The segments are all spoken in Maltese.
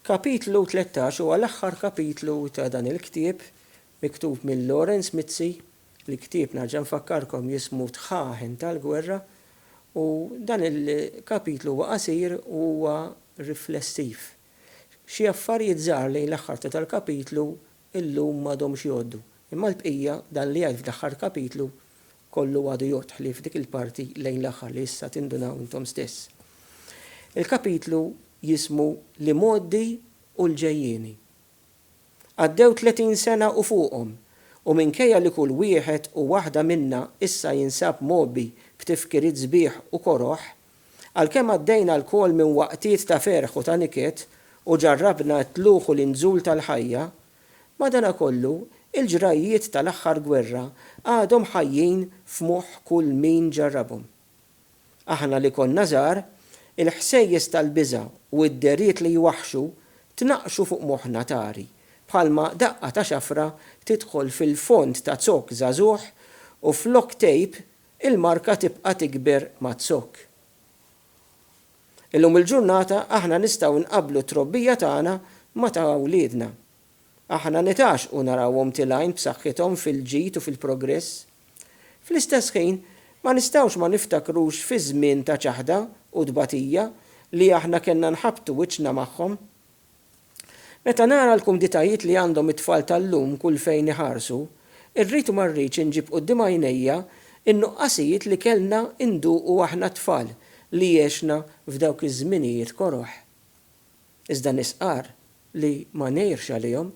Kapitlu tlettax huwa l-aħħar kapitlu ta' dan il-ktieb miktub minn Lawrence Mizzi. Il-ktieb nerġa' nfakkarkom jismu Tħaħen tal-Gwerra u dan il-kapitlu huwa qasir u huwa riflessiv. Xi affarijiet żgħar lejn l-aħħar ta' dal-kapitlu illum m'għadhomx jgħoddu, imma l-bqija, dan li jgħid fl-aħħar kapitlu, kollu għadu jodħli f'dik il-parti lejn l-aħħar li issa tindunaw intom stess. Il-kapitlu jismu L-Imgħoddi u l-Ġejjieni. Għaddew tletin sena u fuqhom, u minkejja li kull wieħed u waħda minna issa jinsab mgħobbi b'tifkiriet sbieħ u koroh, għalkemm għaddejna lkoll minn waqtiet ta' ferħ u ta' niket u ġarrabna t-tlugħ u l-inżul tal-ħajja, Madanakollu, il-ġrajjiet tal-aħħar gwerra għadhom ħajjin f'moħħ kull min ġarrabhom. Aħna li konna żgħar, il-ħsejjes tal-biża' u d-dehriet li jwaħħxu tnaqqxu fuq moħħna tari bħalma daqqa ta' xafra tidħol fil-fond ta' zokk żagħżugħ u flok tgħib, il-marka tibqa' tikber maz-zokk. Illum il-ġurnata aħna nistgħu nqabblu t-trobbija tagħna ma' ta' wliedna. Aħna nitgħaxxqu narawhom tilgħin b'saħħithom fil-ġid u fil-progress. Fl-istess ħin, ma nistgħux ma niftakrux fiż-żmien ta' ċaħda u tbatija li aħna kellna nħabbtu wiċċna magħhom. Meta nara l-kumditajiet li għandhom it-tfal tal-lum kull fejn iħarsu, irrid u ma rridx inġib quddiem għajnejja n-nuqqasijiet li kellna nduqu aħna t-tfal li għexna f'dawk iż-żminijiet koroh. Iżda nisqar li ma ngħirx għalihom.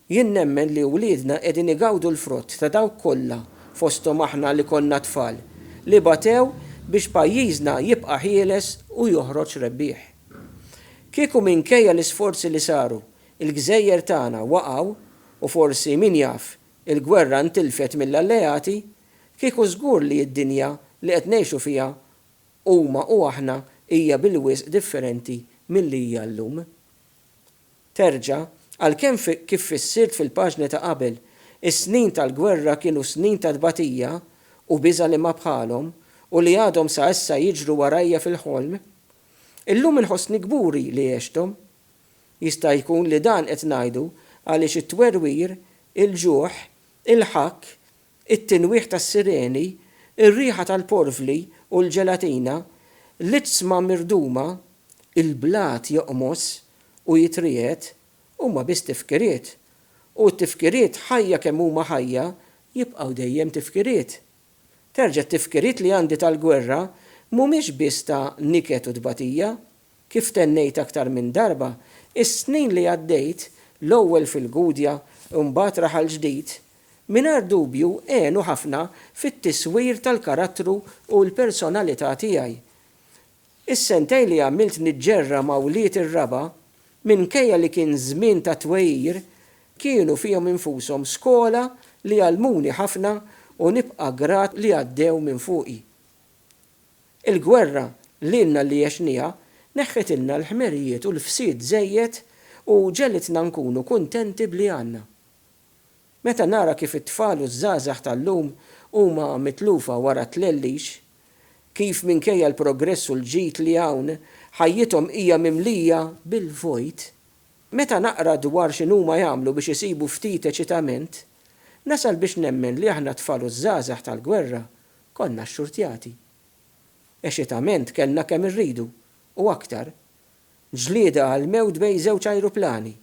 Jien nemmen li wliedna qegħdin igawdu l-frott ta' dawk kollha, fosthom aħna li konna tfal, li batew biex pajjiżna jibqa' ħieles u joħroġ rebbieħ. Kieku minkejja l-isforzi li saru, il-gżejjer tagħna waqgħu u forsi min jaf, il-gwerra ntilfet mill-alleati, kieku żgur li d-dinja li qed ngħixu fiha huma u aħna hija bil-wisq differenti milli hija llum. Terġa', għalkemm fi, kif fissirt fil-paġni ta' qabel, is-snin tal-gwerra kienu snin ta' tbatija u biża' li ma bħalhom u li għadhom sa issa jiġru warajja fil-ħolm, illum inħossni kburi li għexthom. Jista' jkun li dan qed ngħidu għaliex it-twerwir, il-ġuħ, il-ħakk, it-tinwieħ tas-sireni, ir-riħa tal-porvli u l-ġelatina, l-izzma mirduma, il-blat joqmos u jitriegħed, huma biss tifkiriet. U t-tifkiriet, ħajja kemm huma ħajja, jibqgħu dejjem tifkiriet. Terġa' t-tifkiriet li għandi tal-gwerra mhumiex biss ta' niket u tbatija, Kif tennejt aktar minn darba, is-snin li għaddejt, l-ewwel fil-Gudja u mbagħad Raħal Ġdid, mingħajr dubju għenu ħafna fit-tiswir tal-karattru u l-personalità tiegħi. Is-sentejn li għamilt niġġerra ma' wlied ir-raba', minkejja li kien żmien ta' twegħir, kienu fihom infushom skola li għallmuni ħafna u nibqa' grat li għaddew minn fuqi. Il-gwerra lilna li għexnieha neħħitilna l-ħmerijiet u l-fsid żejjed u ġegħlitna nkunu kuntenti b'li għandna. Meta nara kif it-tfal u ż-żgħażagħ tal-lum huma mitlufa wara t-tlellix, kif minkejja l-progress u l-ġid li hawn, ħajjithom hija mimlija bil-vojt, meta naqra dwar x'inhuma jagħmlu biex isibu ftit eċitament, nasal biex nemmen li aħna t-tfal u ż-żgħażagħ tal-gwerra Konna xxurtjati. Eċitament kellna kemm irridu, u aktar. Ġlieda għall-mewt bejn żewġ ajruplani.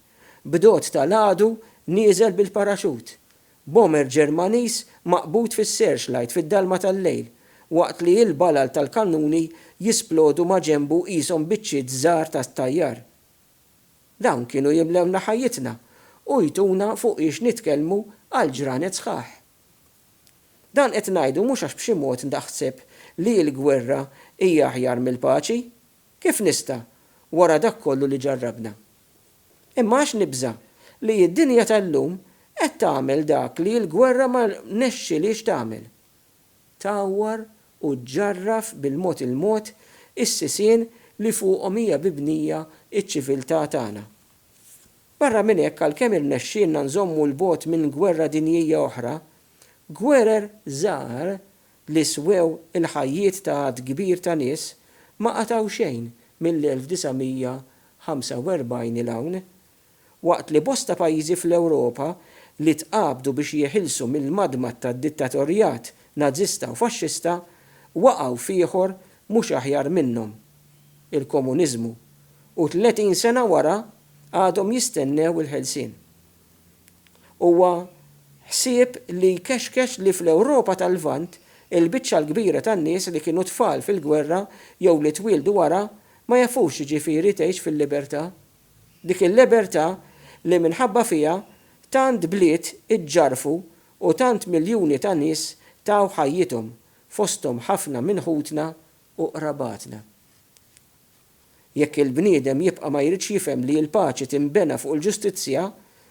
B'dot ta' l-għadu nieżel bil-paraxut. Bomber Ġermaniż maqbud fis-searchlight fid-dalma tal-lejl, waqt li il-balal tal-kannuni jisplodu maġenbu qishom biċċiet żgħar ta' tajjar. Dawn kienu jimlewna ħajjitna u jtuna fuqiex nitkellmu għal ġranet sħaħ. Dan qed ngħidu mhux għax b'xi mod naħseb li l-gwerra hija aħjar mill-paċi, kif nista' wara dak kollu li ġarrabna? Imma għax nibża' li d-dinja tal-lum qed tagħmel dak li l-gwerra ma rnexxilhiex tagħmel, tgħawwar u ġġarraf bil-mod il-mod is-sisien li fuqhom hija bibnija ċ-ċiviltà tagħna. Barra minn hekk għalkemm irnexxielna nżommu 'l bogħod minn gwerra dinjija oħra, gwerer żgħar li swew il-ħajjiet ta' għadd kbir ta' nies ma qatgħu xejn mill-1945 'il hawn. Waqt li bosta pajjiżi fl-Ewropa li tqabdu biex jeħilsu mill-madmad tad-dittatorjat Nażista u Faxxista waqgħu f'ieħor mhux aħjar minnhom, il-komuniżmu, u tletin sena wara għadhom jistennew il-ħelsien. Huwa ħsieb li jkexkex li fl-Ewropa tal-Lvant il-biċċa l-kbira tan-nies li kienu tfal fil-gwerra jew li twieldu wara ma jafux x'jiġifieri tgħix fil-libertà. Dik il-lebertà li minħabba fiha tant bliet iġġarfu u tant miljuni ta' nies taw ħajjithom, fosthom ħafna minn ħutna u qrabatna. Jekk il-bniedem jibqa' ma jridx jifhem li l-paċi tinbena fuq il-ġustizzja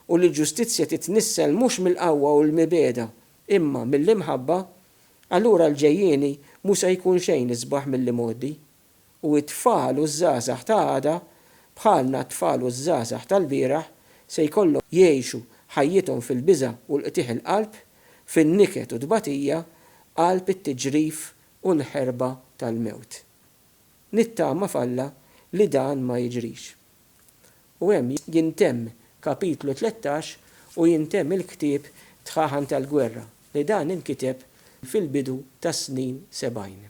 u li l-ġustizzja titnissel mhux mill-qawwa u l-mibegħda imma mill-imħabba, allura l-ġejjieni mhu se jkun xejn isbaħ mill-imgħoddi, u t-tfal u ż-żgħażagħ ta' għada, bħalna t-tfal u ż-żgħażagħ tal-bieraħ, se jkollhom jgħixu ħajjithom fil-biża' u l-qtigħ il-qalb, fin-niket u t-tbatija, qalb it-tiġrif u l-ħerba tal-mewt. Nittama f'Alla li dan ma jiġrix. U hemm jintemm kapitlu tlettax u jintemm il-ktieb Tħaħan tal-Gwerra li dan inkiteb fil-bidu tas-snin sebgħin.